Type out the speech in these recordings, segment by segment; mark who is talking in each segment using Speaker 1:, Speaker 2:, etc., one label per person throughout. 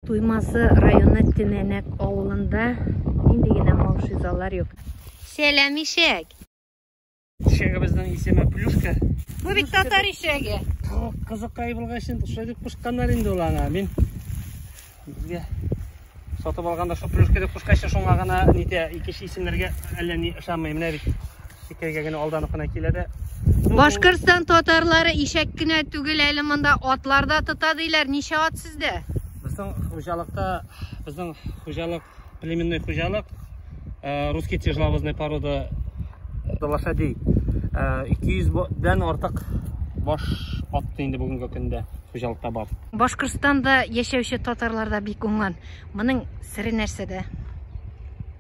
Speaker 1: Туймазы районы Тенәнәк авылында нинди генә маушизалар юк. Сәлам ишәк!
Speaker 2: Ишәгебезнең исеме Плюшка. Бу бит татар
Speaker 1: ишәге. Кызыкай
Speaker 2: булгач инде шулай дип кушканнар инде ул аңа. Мин безгә сатып алганда шул Плюшка дип кушкач, шуңа гына нитә, икенче исемнәргә әллә ни ышанмый. Менә бит Икәйгә генә алданып кына килә дә. Башкортстан
Speaker 1: татарлары ишәк кенә түгел, әле монда атлар да тота диләр. Ничә ат сездә? Безнең хуҗалыкта,
Speaker 2: безнең хуҗалык племенной хуҗалык, э, русский тяжеловозный порода э, лошадей. 200 э, дән артык баш атты инде бүгенге көндә хуҗалыкта бар. Башкортстанда
Speaker 1: яшәүче татарларда бик уңган. Моның сире нәрсәдә?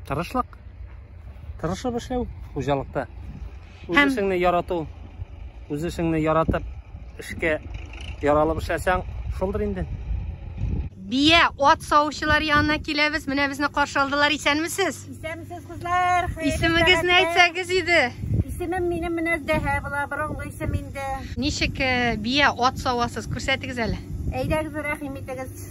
Speaker 2: Тырышлык. тырышып эшләү хуҗалыкта үз Һәм... эшеңне ярату үз эшеңне яратып эшкә яралып эшләсәң шулдыр инде бия
Speaker 1: ат савучылар янына киләбез менә безне каршы алдылар исәнмесез исәнмесез кызлар
Speaker 3: исемегезне
Speaker 1: әйтсәгез иде исемем минем
Speaker 3: менә зәһә була борынгы исем инде ничек э,
Speaker 1: бия ат савасыз күрсәтегез әле әйдәгез рәхим
Speaker 3: итегез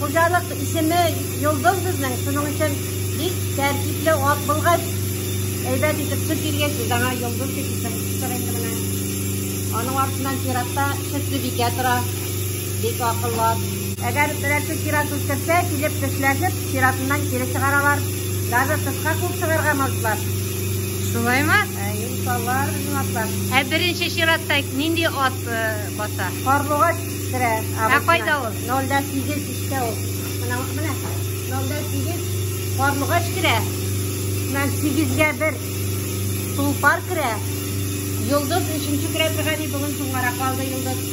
Speaker 3: Хуҗалык исеме Йолдыз безнең, шуның өчен бик тәртипле ат булгач, әйбәт итеп сөт биргәч, без аңа Йолдыз дип исем куштык инде менә. Аның артыннан чиратта сөтле бикә тора, бик акыллы ат. Әгәр берәрсе чират үстерсә, килеп тешләшеп, чиратыннан кире чыгаралар. Даже тышка куып чыгарга мазлар. Шулаймы?
Speaker 1: Ә, иншаллар
Speaker 3: безнең атлар. Ә беренче чиратта
Speaker 1: нинди ат э, баса? Карлугач
Speaker 3: керә. Ә кайда ул?
Speaker 1: Нолда сигез дистә
Speaker 3: ул. Менә, менә, нолда сигез карлыгач керә. Менә сигезгә бер тулпар керә. Йолдыз өченче керә торган и бүген соңгарак калды йолдыз.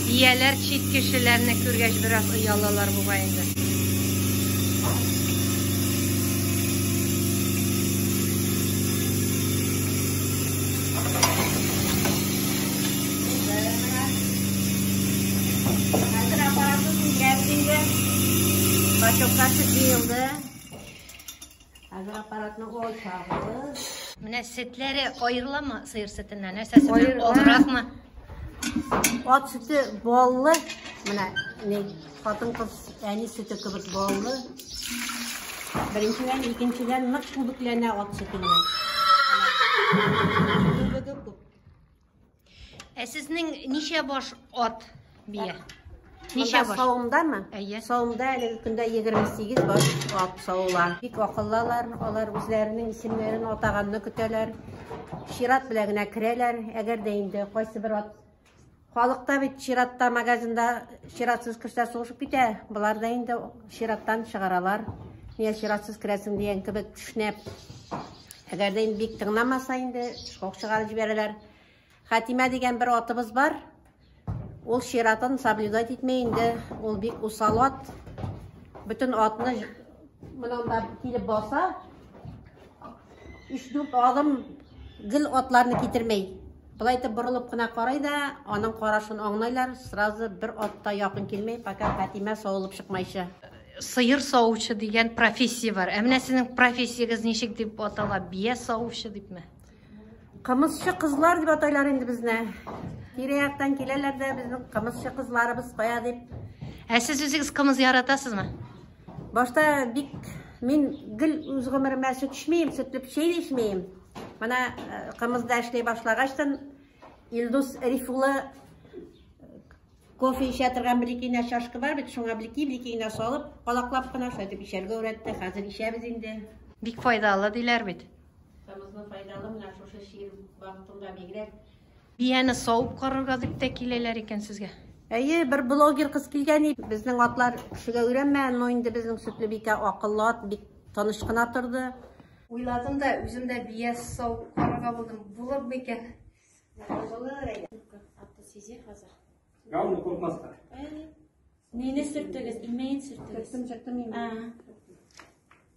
Speaker 1: Бияләр чит кешеләрне күргәч бераз оялалар бугай инде.
Speaker 3: Менә
Speaker 1: сөтләре аерыламы сыер сөтеннән? Нәрсә сөтеннән? Олыракмы?
Speaker 3: Ат сөте баллы. Менә не хатын кыз әни сөте кебек баллы. Беренчедән, икенчедән нык күбекләнә ат сөте менә.
Speaker 1: Ә сезнең ничә баш ат бия? Ничә баш? Савымдамы? Әйе.
Speaker 3: Савымда әлеге көндә 28 баш ат савыла. Бик акыллылар, алар үзләренең исемнәрен атаганны көтәләр. Чират белән генә керәләр, әгәр дә инде кайсы бер ат Халыкта бит чиратта магазинда чиратсыз керсә сугышып китә. Болар да инде Чираттан чыгаралар. Ниә чиратсыз керәсең дигән кебек кешнәп. Әгәр дә инде бик тыңламаса инде, шок чыгарып җибәрәләр. Хәтимә дигән бер атыбыз бар. Ул чиратын соблюдать итмәй инде. Ул бик усал ат. Бөтен атны монан да килеп баса. 3-4 адым гел атларны китермәй. Болай итеп борылып кына карый да, аның карашын аңлайлар, сразу бер атта якын килмей, пока Фатимә савылып чыкмайча. Сыер
Speaker 1: савучы дигән профессия бар. Ә менә сезнең профессиягез ничек дип атала? Бия савучы дипме? Кымызчы
Speaker 3: кызлар дип атайлар инде безне. Тирә-яктан киләләр дә безнең кымызчы кызларыбыз кая дип. Ә сез үзегез
Speaker 1: кымыз яратасызмы? Башта
Speaker 3: бик мин гел үз гомеремә сөт эчмим, сөтле печәй дә эчмим. Менә э, кымызда эшли башлагачтан Илдус Рифулы э, кофе эчә торган бер икенә чашка бар бит, шуңа бер ике бер генә салып, калаклап кына шулай дип эчәргә өйрәтте. Хәзер эчәбез инде. Бик файдалы
Speaker 1: диләр бит. Кымызны
Speaker 3: файдалы менә шушы чир вакытында бигрәк Бияне
Speaker 1: савып карарга дип тә киләләр икән сезгә. Әйе, бер блогер
Speaker 3: кыз килгән иде. Безнең атлар кешегә өйрәнмәгән, но инде безнең Сөтлебикә акыллы ат, бик тыныч кына торды. Уйладым да, үзем дә бия савып карарга булдым. Булыр микән? Булыр әле. Аты сизә хәзер. Гауны куркмаска. Әйе. Мине
Speaker 2: сөртегез, имәен
Speaker 3: сөртегез. Сөртем, сөртем
Speaker 4: имәен.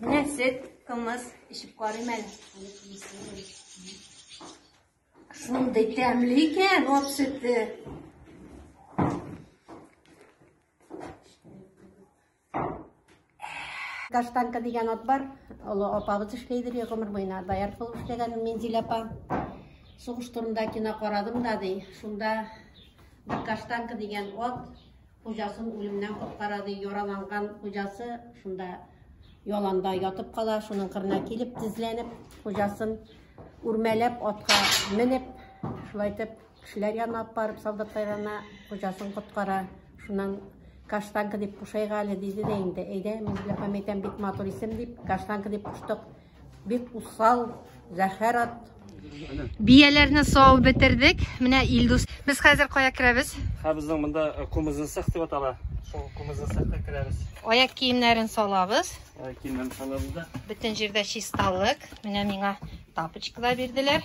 Speaker 3: Менә сөт, кымыз эчеп карыйм әле. Шундый тәмле икән ат сөте. Каштанка дигән ат бар. Олы апабыз эшләйдер, гомер буена доярка булып эшләгән Минзилә апа. Сугыш турында кино карадым да ди. Шунда бер каштанка дигән ат хуҗасын үлемнән коткара ди. Яраланган хуҗасы шунда яланда ятып кала, шуның кырына килеп тезләнеп, хуҗасын үрмәләп атка менеп, шулай итеп Кешеләр янына алып барып солдатлар янына хуҗасын коткара. Шуннан каштанка дип кушайга әле диде дә инде. Әйдә, мин белән Хәмитәм бик матур исем дип каштанка дип куштык. Бик усал, зәһәр ат.
Speaker 1: Бияләрне сау бетердек. Менә Илдус. Без хәзер кая керәбез? Һә безнең монда
Speaker 2: э, кумызын сак дип атала. Шул кумызын сакка керәбез. Аяк киемнәрен
Speaker 1: салабыз. Аяк киемнәрен салабыз
Speaker 2: да. Бөтен җирдә
Speaker 1: чисталык. Менә миңа тапочкалар бирделәр.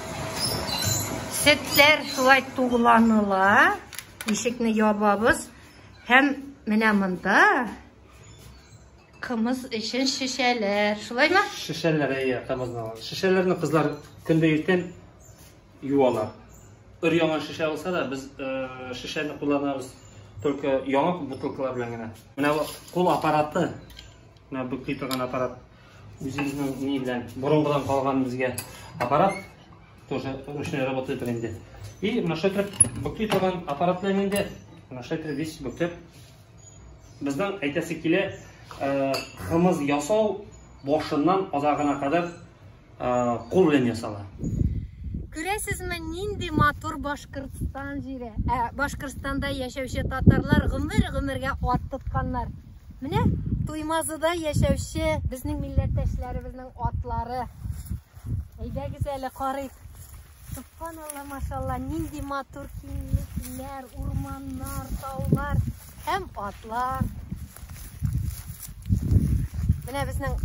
Speaker 1: Сеттер шулай тугланыла. Ишекне ябабыз. Һәм менә монда кымыз өчен шешәләр. Шулаймы? Шешәләр, әйе,
Speaker 2: кымызны алалар. Шешәләрне кызлар көндә иртән юалар. Өр яңа шешә алса да, без э, шешәне кулланабыз только яңа бутылкалар белән генә. Менә кул аппараты. Менә бөкли торган аппарат. Үзебезнең ни белән борынгыдан калган безгә аппарат тоже ручной работает инде. И машетреп бөкли торган аппарат белән инде машетреп весь бөктеп. Безнең әйтәсе килә, э, кымыз ясау башыннан азагына кадәр э, кул белән ясала.
Speaker 1: Күрәсезме, нинди матур Башкортстан җире. Ә Башкортстанда яшәүче татарлар гомер-гомергә ат тотканнар. Менә Туймазыда яшәүче безнең милләттәшләребезнең атлары. Әйдәгез әле карыйк. Субханалла, машалла, нинди матур киңлекләр, урманнар, таулар һәм атлар. Менә безнең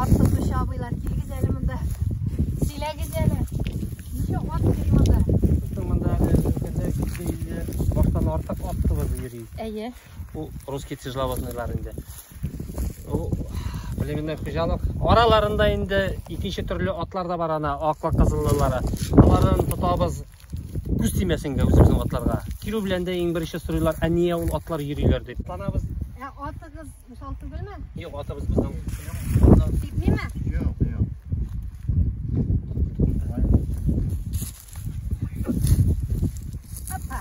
Speaker 1: ат тотучы абыйлар килгез әле монда. Сөйләгез әле. Ничә ат йөри монда? Монда әле
Speaker 2: өлкәдә баштан артык ат кылып йөри. Әйе. Бу
Speaker 1: русский
Speaker 2: тяжеловозныйлар инде. Бу племенный хуҗалык. Араларында инде икенче төрле атлар да бар ана, аклы кызыллылары. Аларны тотабыз күз тимәсенгә үзебезнең атларга. Кирү белән дә иң беренче сорыйлар, ә нигә ул атлар йөриләр дип. Танабыз. Ә атыгыз
Speaker 1: мисал түгелме? Юк, атыбыз безнең.
Speaker 2: Китмиме?
Speaker 5: Юк,
Speaker 1: юк. Опа.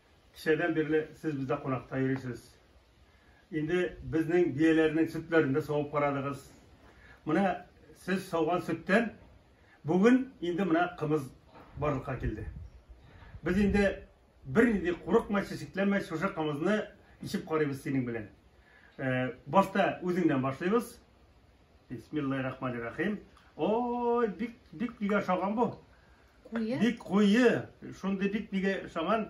Speaker 5: Кичәдән бирле сез бездә кунакта йөрисез. Инде безнең бияләрнең сөтләрен дә савып карадыгыз. Менә сез сауган сөттән бүген инде менә кымыз барлыкка килде. Без инде бернинди курыкмай, чәчәкләмәй шушы кымызны ичеп карыйбыз синең белән. Э, башта үзеңнән башлыйбыз. Бисмиллахи рахмани рахим. Ой, бик бик нигә шаган бу? Куе. Бик куе. Шундый бик нигә шаган?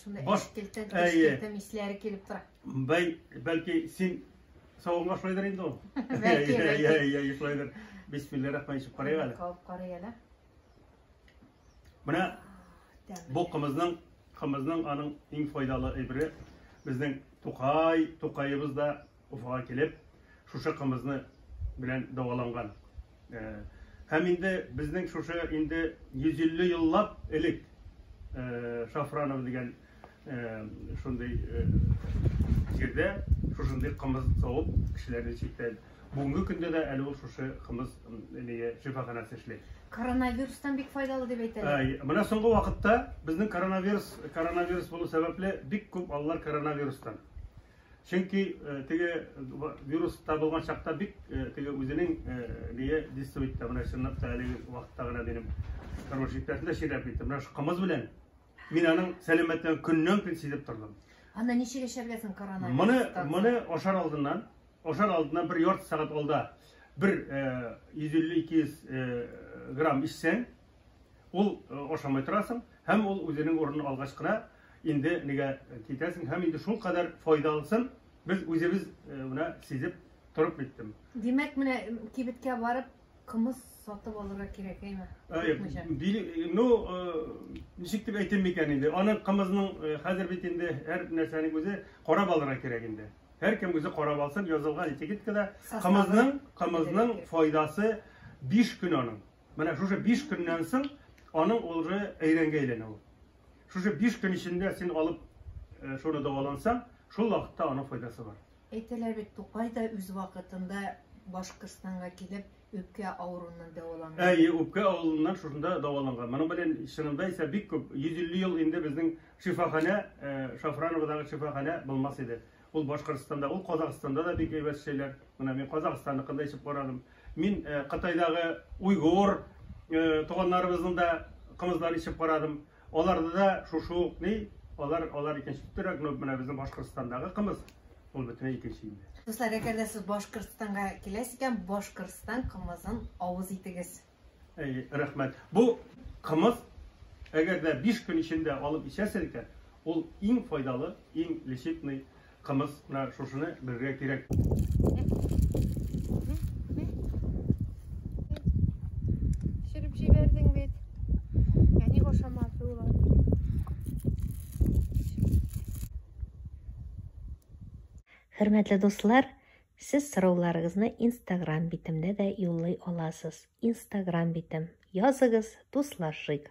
Speaker 1: Шундый Баш... эскелтә, эскелтә мисләре килеп тора. Бәй, бәлки
Speaker 5: син савынга шулайдыр инде ул. Бәлки, бәлки.
Speaker 1: Я, я, я, шулайдыр.
Speaker 5: Бисмиллахи рахмани рахим. Карый әле. Калып карый әле. Менә бу кымызның, кымызның аның иң файдалы әйбере. Безнең Тукай, Тукаебыз да Уфага килеп, шушы кымызны белән дәваланган. Һәм инде безнең шушы инде 150 еллап элек Шафранов дигән шундый җирдә шушындый кымыз савып кешеләрне читтән. Бүгенге көндә дә әле ул шушы кымыз нигә шифаханәсе эшли. Коронавирустан бик
Speaker 1: файдалы дип әйтәләр. Менә соңгы вакытта
Speaker 5: безнең коронавирус коронавирус булу сәбәпле бик күп аллар коронавирустан. Чөнки теге вирус табылган чакта бик теге үзенең бие дистуй итте. Менә чынлап та әлеге вакытта гына минем тормыш иптәшемдә сөйләп китте. Менә шул кымыз белән мин аның сәламәтлеген көннән көн сизеп тордым. Аны ничек эшләргә
Speaker 1: соң коронавирус? Моны моны ашар
Speaker 5: алдыннан, ашар алдыннан бер ярты сәгать алда бер 150-200 грамм ичсәң, Ул ашамай торасың, һәм ул үзенең урынын алгач кына инде нигә китәсең, һәм инде шул кадәр файдалысын без үзебез менә сизеп торып биттем. Димәк, менә
Speaker 1: кибеткә барып кымыз сатып алырга кирәк, әйме? Әйе. Ну,
Speaker 5: ничек дип әйтим микән инде? Аның кымызның хәзер бит инде һәр нәрсәнең үзе карап алырга кирәк инде. Һәр кем үзе карап алсын, язылган этикеткада кымызның, кымызның файдасы 5 көн аның. Менә шушы биш көннән соң аның улы әйрәнгә әйләнә ул. Шушы биш көн эчендә син алып э, шуны дәвалансаң, шул вакытта аның файдасы бар. Әйтәләр бит, Тукай
Speaker 1: да үз вакытында Башкортстанга килеп, үпкә авыруыннан дәваланган. Әйе, үпкә авыруыннан
Speaker 5: шушында дәваланган. Моның белән чынында исә бик күп, 150 ел инде безнең шифаханә, э, Шафрановадагы шифаханә булмас иде. Ул Башкортстанда, ул Казахстанда да бик әйбәт эшләйләр. Менә мин Казахстанныкын да ишеп карадым. Мин э, Кытайдагы уйгур э, туганнарыбызның да кымызларын ишеп карадым. Аларда да шушы ук ни, алар алар икенче төптөрәк, но менә безнең Башкортстандагы кымыз ул бөтенләй икенче инде. Дуслар, әгәр дә сез
Speaker 1: Башкортстанга киләсез икән, Башкортстан кымызын авыз итегез. Әйе, рәхмәт.
Speaker 5: Бу кымыз, әгәр дә 5 көн эчендә алып эчәсез икән, ул иң файдалы, иң лечебный кымыз. Менә шушыны белергә кирәк.
Speaker 1: Шереп җибәрдең бит. Я не ашамасы ул.
Speaker 3: Хөрмәтле дуслар, Сез сорауларыгызны инстаграм битемдә дә юллый аласыз. Инстаграм битем. Языгыз, дуслашыйк.